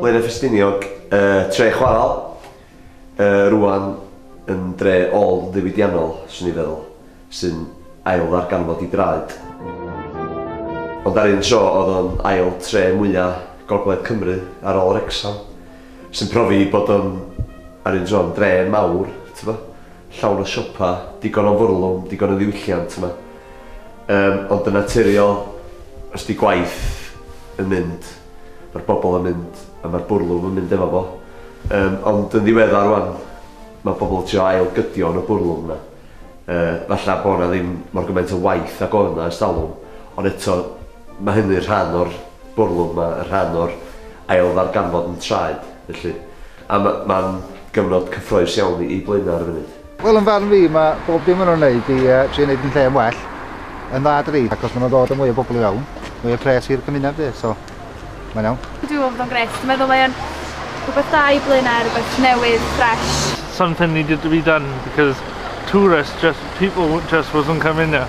Blaenau Ffestiniog, y Tre Chwarel, yy rŵan yn dre ôl-ddiwydiannol, 'swn i'n feddwl, sy'n ail-ddarganfod ei draed. Ond ar un tro, oedd o'n ail tre mwya' Gogledd Cymru, ar ôl Wrecsam. Sy'n profi bod o'n, ar un tro, yn dre mawr, t'bo', llawn o siopa, digon o fwrlwm, digon o ddiwylliant yma. Yym, ond yn naturiol, os 'di gwaith yn mynd, ma'r bobl yn mynd, a ma'r bwrlwm yn mynd efo fo. Yym, ond yn ddiweddar rŵan, ma' pobl yn trio ail-gydio yn y bwrlwm 'na. Yy, falla bo' 'na ddim mor gymaint o waith ag oedd 'na ers talwm, ond eto, ma' hynny'n rhan o'r bwrlwm 'ma, y rhan o'r ailddarganfod yn traed, felly. A ma- ma'n gyfnod cyffroes iawn i i Blaenau ar y funud. Wel, yn farn fi, ma' bob dim ma' nhw'n neud i yy trio neud yn lle yn well yn dda dydi? Achos ma' nhw'n dod â mwy o bobl i fewn, mwy o pres i'r cymuned 'fyd, so mae'n iawn. Dwi me'wl bod o'n grêt. Dwi meddwl mae o'n rhwbeth da i Blaenau, rwbeth newydd, ffresh. Something needed to be done because tourists just, people just wasn't coming here.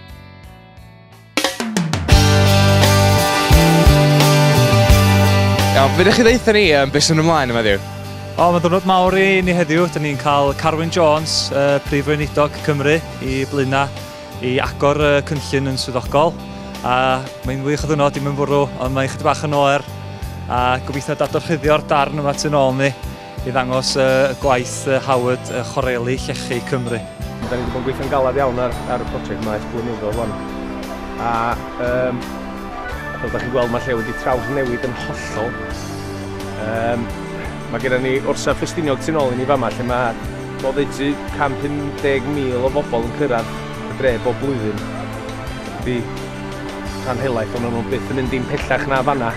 Iawn, fydych chi ddeitha ni um, beth sy'n ymlaen yma ddiw? O, mae'n dwrnod mawr i ni heddiw. Dyna ni'n cael Carwyn Jones, uh, Prif Weinidog Cymru, i blaenau i agor y uh, cynllun yn swyddogol. A mae'n wych o ddwrnod i mynd fwrw, ond mae'n chydig bach yn oer. A gobeithio dadorchuddio'r darn yma tu'n ôl ni. i ddangos y gwaith Howard, Chwareli Llechi Cymru. Da ni wedi bod yn gweithio'n galed iawn ar, ar y prosiect yma ers blynyddoedd rwan. A um, fel da chi'n gweld mae lle wedi trawsnewid yn hollol. Um, mae gennym ni orsa Ffestiniog tu'n ôl i ni fama lle mae boddeutu 150,000 o bobl yn cyrraedd y dre bob blwyddyn. Ydy rhan helaeth ond o'n nhw byth yn mynd dim pellach na fanna.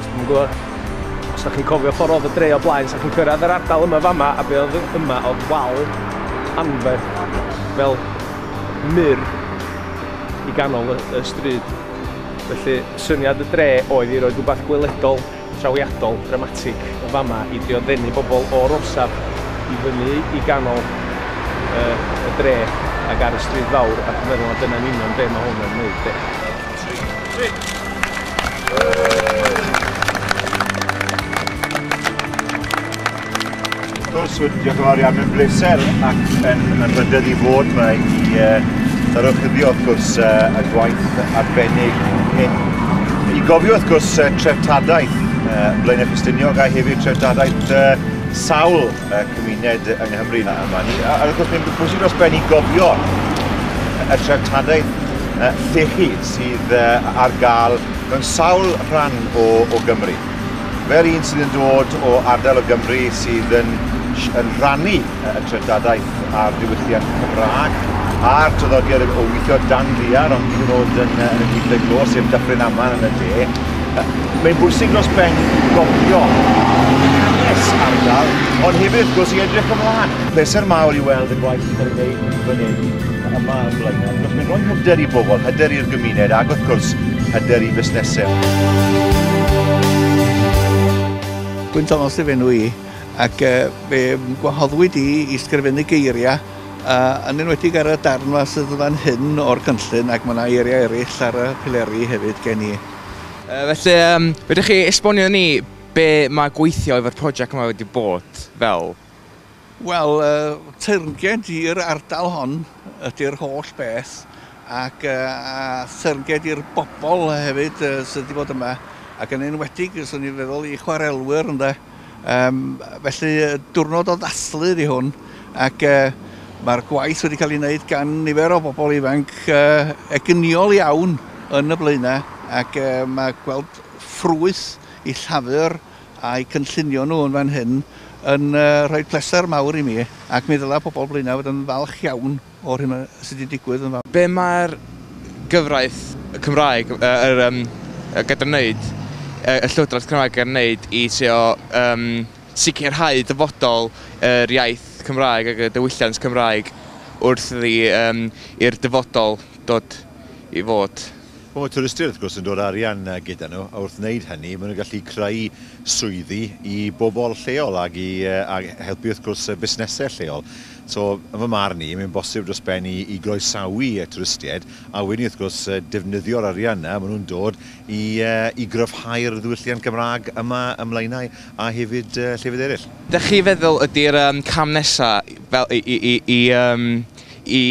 Dwi'n gwybod, os ydych chi'n cofio ffordd oedd y dre o blaen, sa'ch chi'n cyrraedd yr ardal yma fama, a be oedd yma oedd wal anferth fel mur i ganol y, y stryd. Felly, syniad y dre oedd i roi rhywbeth gweledol trawiadol dramatig yn fama i drio ddenu bobl o'r orsaf i fyny i ganol y y dre ag ar y stryd fawr a dwi'n meddwl na dyna'n union be mae hwn yn wneud 'de. Wrth gwrs, diolch yn fawr iawn, mae'n bleser ac yn, yn rhydedd i fod yma i uh, ddarochyddio, wrth gwrs, uh, y gwaith arbennig hyn. I gofio, wrth gwrs, uh, treftadaeth uh, Blaenau Ffestiniog a hefyd treftadaeth uh, sawl uh, cymuned yng Nghymru yma. A, a wrth gwrs, mae'n bwysig dros ben i gofio y treftadaeth uh, llechi sydd uh, ar gael mewn sawl rhan o, o Gymru. Fel un sydd yn dod o ardal o Gymru sydd yn, yn rhannu y treftadaeth a'r diwylliant Cymraeg a'r traddodiad o weithio dan ddiar ond hyd yn oed yn, yn y gwyddau glo, sef Dyffryn Aman yn y de, mae'n bwysig dros ben gofio hanes ardal, ond hefyd wrth gwrs i edrych ymlaen. Pleser mawr i weld y gwaith sy'n cael ei wneud fan hyn, yma yn Blaenau, achos mae'n rhoi hyder i bobl, hyder i'r gymuned ac wrth gwrs hyder i fusnesau. Gwyn Thomas yw enw i ac uh, fe gwahoddwyd i i sgrifennu geiriau uh, yn enwedig ar y darn yma sydd yn fan hyn o'r cynllun ac mae yna eiriau eraill ar y pileri hefyd gen i. Uh, felly, um, rydych chi esbonio ni be mae gweithio efo'r prosiect yma wedi bod fel? Wel, teyrnged i'r ardal hon ydy'r holl beth ac a theyrnged i'r bobl hefyd sydd wedi bod yma ac yn enwedig, swn i'n feddwl, i chwarelwyr ynde. Um, felly diwrnod o ddathlu ydi hwn ac uh, mae'r gwaith wedi cael ei wneud gan nifer o bobl ifanc uh, eginiol iawn yn y blaenau ac uh, mae gweld ffrwyth i llafur A'u cynllunio nhw yn fan hyn yn rhoi pleser mawr i mi ac mi ddylai pobl Blaenau fod yn falch iawn o'r hyn sydd wedi digwydd yn fama. Be mae'r gyfraith Cymraeg, yr yym, gyda'n wneud, y Llywodraeth Cymraeg gan wneud i trio yym sicrhau dyfodol yr iaith Cymraeg ag y diwylliant Cymraeg wrth iddi yym i'r dyfodol dod i fod. Mae twristiaid wrth gwrs yn dod arian gyda nhw a wrth wneud hynny maen nhw'n gallu creu swyddi i bobl lleol ac i helpu wrth gwrs busnesau lleol. So yn fy marn i mae'n bosib dros ben i i groesawu twristiaid a wedyn wrth gwrs defnyddio'r arian yna maen nhw'n dod i i gryfhau'r ddiwylliant Gymraeg yma ym Mlaenau a hefyd llefydd eraill. Dach chi'n feddwl ydy'r cam nesaf fel i i i i yym i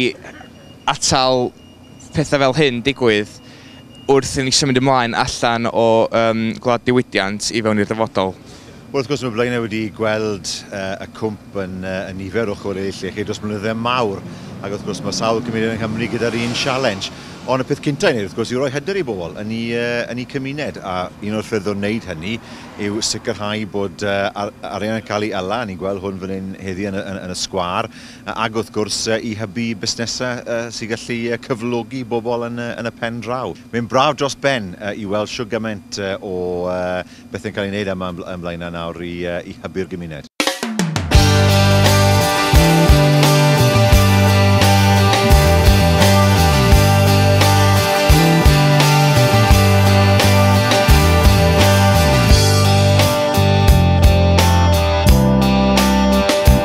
atal pethau fel hyn digwydd wrth i ni symud ymlaen allan o um, gwlad diwydiant i fewn i'r dyfodol. Wel, wrth gwrs, mae Blaenau wedi gweld uh, y cwmp yn, uh, yn nifer o chwaraeau llechi dros blynyddoedd mawr, ac wrth gwrs mae sawl cymuned yng Nghymru gyda'r un sialens. Ond y peth cyntaf i wneud, wrth gwrs, yw roi hyder i bobl yn ei, uh, yn ei cymuned, a un o'r ffyrdd o wneud hynny yw sicrhau bod uh, ar, arian yn cael ei ala, ni'n gweld hwn fan hyn heddi yn, yn, yn y sgwar, Ac wrth gwrs i hybu busnesau sy'n gallu cyflogi bobl yn y pen draw. Mae'n braf dros ben i weld shwt gymaint o bethau'n cael eu gwneud yma yn Blaenau nawr i hybu'r gymuned.